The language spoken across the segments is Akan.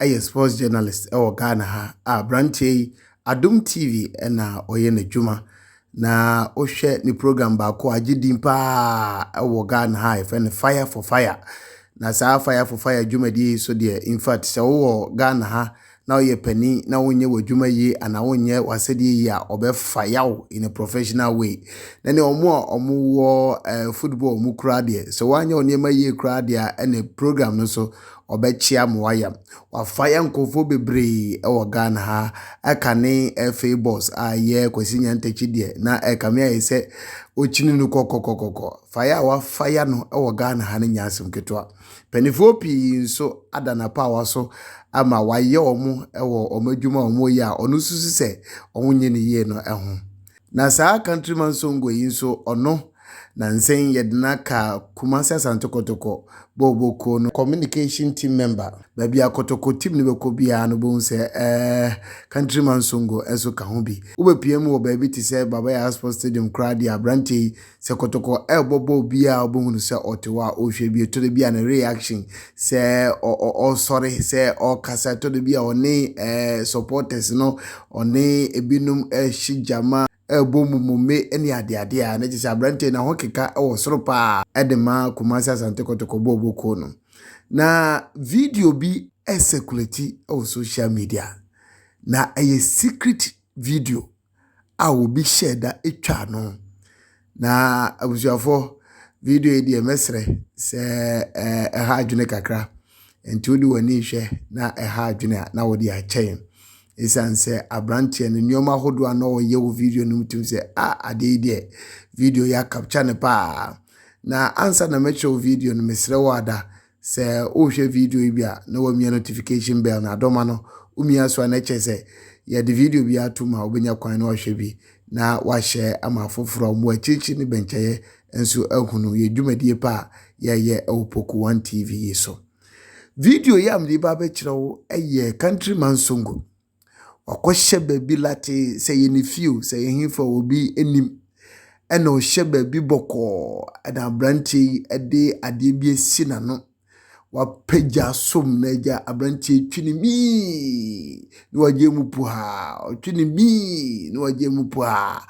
yɛ sports journalist wɔ Ghana ha a aberanteɛ yi Adom TV na ɔyɛ n'adwuma na wohwɛ ne program baako a agye din paa wɔ Ghana ha a yɛfrɛ no Fire for Fire na saa Fire for Fire dwumadie yi so deɛ in fact sɛ wowɔ Ghana ha na woyɛ panin na wonyɛ w'adwuma yie anaa wonyɛ w'asɛdeɛ yie a ɔbɛfa yaw in a professional way na ne ɔmo a ɔmo wɔ eh, football ɔmo kura deɛ sɛ woanyɛ wo nneɛma yie koraa deɛ a ɛne program no so ɔbɛkyea mo wayam. Wafa yɛn nkurɔfoɔ bebree wɔ Ghana ha. Ɛkane FA boss a yɛ Kwasi Nyantakyi deɛ na ɛkame ayɛ sɛ ɔkyini no kɔkɔkɔkɔkɔ. Faya a wafa ya no wɔ Ghana ha no nyɛ asɛm ketewa. Mpanimfoɔ pii nso ada n'apaawa so ama wayɛ wɔn wɔ wɔn adwuma a wɔyɛ a ɔno susu sɛ wɔnyɛ no yie no ho. Na saa Country Man Songo yi nso ɔno na nsɛn yɛde no aka Kumasi Asante Kotoko bɔɔlbɔ kuo no communication team member. Baabi a Kotoko team no bɛkɔ biara no wobɛhu sɛ ɛɛ Country Man Songo nso ka ho bi. Wobɛpia mu wɔ baabi te sɛ Baba Yara Sports Stadium koraa deɛ aberanteɛ yi Sɛ kɔtɔkɔ ɛɛbɔbɔ obi a ɔbɛhu no sɛ ɔte hɔ a ɔrehwɛ bi, ɛtɔ da bi a ne reaction sɛ ɔresɔre, sɛ ɔrekasa, ɛtɔ da bi a ɔne supporters no, ɔne ebinom ɛrehye gyama, ɛrebɔ mumome ne adeadeɛ a, na kyerɛ sɛ aberanteɛ no ahokeka wɔ soro paa ɛde ma Kumasi Asante Kɔtɔkɔ bɔɔlbɔ kuo no. Na video bi ɛresekulati wɔ social media, na ɛyɛ secret video. a obi hyɛɛ da twaa no. Na abusuafoɔ, video yi deɛ mɛsrɛ sɛ ɛɛ ɛha adwene kakra. Nti wode w'ani hwɛ na ɛha adwene a na wode akyɛ yɛn. Ɛsiane sɛ aberanteɛ no nneɛma ahodoɔ a na ɔyɛ wɔ video no mu tim sɛ a adeɛ yi deɛ video yi akapkya no paa. Na ansa na mɛkyerɛ wo video no mesrɛ wo ada Sɛ wohwɛ video yi bi a na wamia notification bell na adɔma no, womia so a na ɛkyɛ sɛ yɛde video bi ato mu a wobɛnya kwan na wahwɛ bi na wahyɛ ama afoforɔ a wɔn akyirikyiri ne bɛnkyɛyɛ nso ahunu yɛ dwumadie pa a yɛyɛ wɔ Poku One TV yi so. Video yi a mede ba bɛkyerɛ wo yɛ Country Man Songo. Wakɔhyɛ baabi latee, sɛ ɛyɛ ne fie o, sɛ ɛyɛ hefa o, obi nnim. Ɛnna ɔhyɛ baabi bɔkɔɔ, ɛnna aberanteɛ yi de adeɛ bi asi n'ano. Wapagya som no agya, aberanteɛ yi twe ne miiiii na wagyae mu puhaa, ɔtwe ne miiiii na wagyae mu puhaa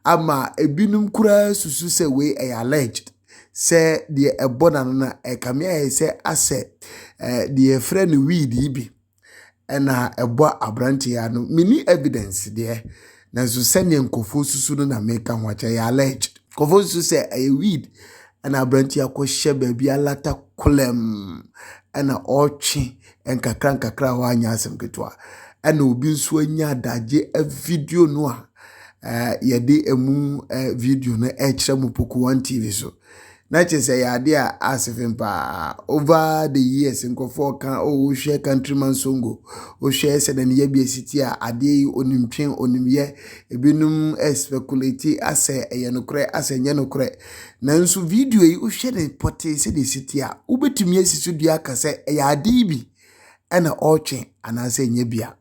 ama ebinom koraa susu sɛ wei yɛ alleged sɛ deɛ ɛbɔ n'ano no, ɛrekame ayɛ sɛ asɛ ɛɛ deɛ yɛfrɛ no weed yi bi. na ɛbɔ aberanteɛ yi ano. Menni evidence deɛ, nanso sɛdeɛ nkurɔfoɔ susu no na meka ho akyɛ, ɛyɛ alleged. Nkurɔfoɔ susu sɛ ɛyɛ weed na aberanteɛ akɔhyɛ baabi alata kolɛm na ɔretwe nkakra nkakra a wanyɛ asɛm ketewa. Ɛna obi nso anya adagye video no a yɛde ɛmu video no rekyerɛ mo Pokuwan TV so. na kyerɛ sɛ ɛyɛ adeɛ a asefem paa over the years nkurɔfoɔ ka o wohwɛ countryman songo wohwɛ sɛdeɛ ne yɛbi asi ti a adeɛ yi onimtwe onimyɛ ebinom speculate asɛ ɛyɛ nokorɛ asɛ nyɛ nokorɛ nanso video yi wohwɛ ne pɔtee sɛdeɛ ɛsi ti a wobɛtumi asi so dua aka sɛ ɛyɛ adeɛ yi bi ɛna ɔretwe anaasɛ ɛnyɛ bi a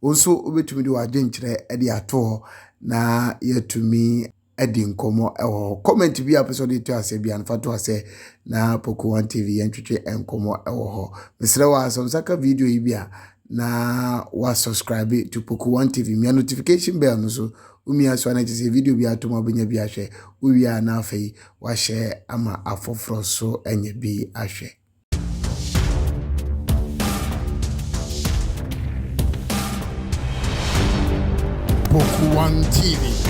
wo nso wobɛtumi de w'adwenkyerɛ de ato hɔ na yɛatumi di nkɔmmɔ wɔ hɔ. Comment bi a pɛsɛ ɔde to ase bi an fa to ase na Poco One TV yɛn twetwe nkɔmmɔ wɔ hɔ. Mesrɛ wɔ asɛm saka video yi bi a na wa subscribe to Poco One TV. Mia notification bell no so. Umia so na kyerɛ video bi atom abenya bi ahwɛ. Uwia na afei wa share ama afoforo so anya bi ahwɛ. Poco One TV